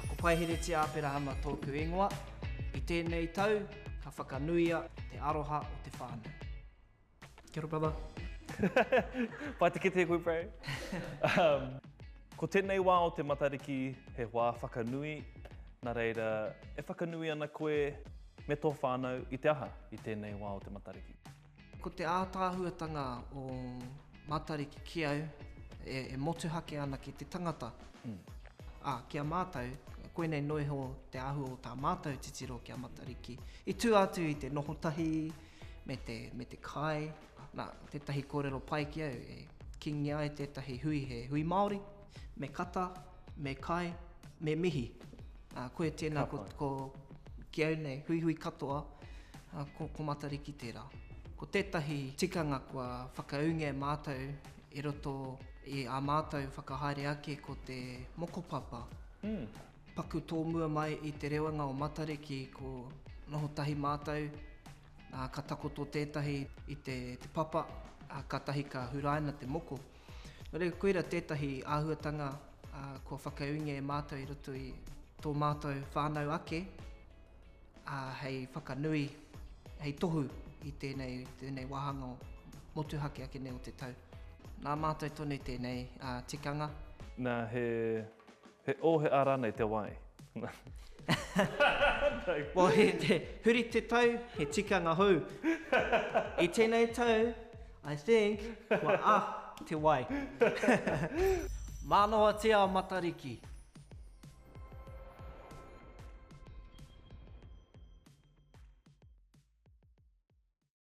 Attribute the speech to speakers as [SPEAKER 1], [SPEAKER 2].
[SPEAKER 1] Ko Paiheretia Aperahama tōku ingoa. I tēnei tau, ka whakanuia te aroha o te whānau. Kia ora brother.
[SPEAKER 2] Pai te kite koe bro. Ko tēnei wā o te Matariki he wā whakanui, nā reira e whakanui ana koe me tō whānau i te aha i tēnei wā o te Matariki? Ko te
[SPEAKER 1] ātaahuatanga o Matariki ki au, e motuhake ana ki te tangata. Ā, ki a mātou, koinei noa iho te āhua o tā mātou titiro ki a Matariki. I tū atu i te noho tahi me te, me te kai. Nā, tētahi kōrero pai ki au e kīngia ai tētahi hui, he hui Māori. Me kata, me kai, me mihi. Ā, koe tēnā ko, ko, ki au nei, huihui katoa, ā, ko, ko Matariki tērā. Ko tētahi tikanga kua whakaūngia e mātou i roto i ā mātou whakahaere ake ko te mokopapa. Paku tōmua mai i te rewanga o Matariki ko noho tahi mātou, ā, ka takoto tētahi i te, te papa, ā, kātahi ka huraina te moko. Nōreira, koira tētahi āhuatanga kua whakaūngia e mātou i roto i tō mātou whānau ake, ā, hei whakanui, hei tohu i tēnei, tēnei wāhanga o motuhake ake nei o te tau. Nā mātou tonu tēnei tikanga. Nā, he
[SPEAKER 2] He o, he a ranei te wai?
[SPEAKER 1] Well, he te huri te tau, he tikanga hou. I tenei tau, I think, kua a te wai. Manawatia a Matariki.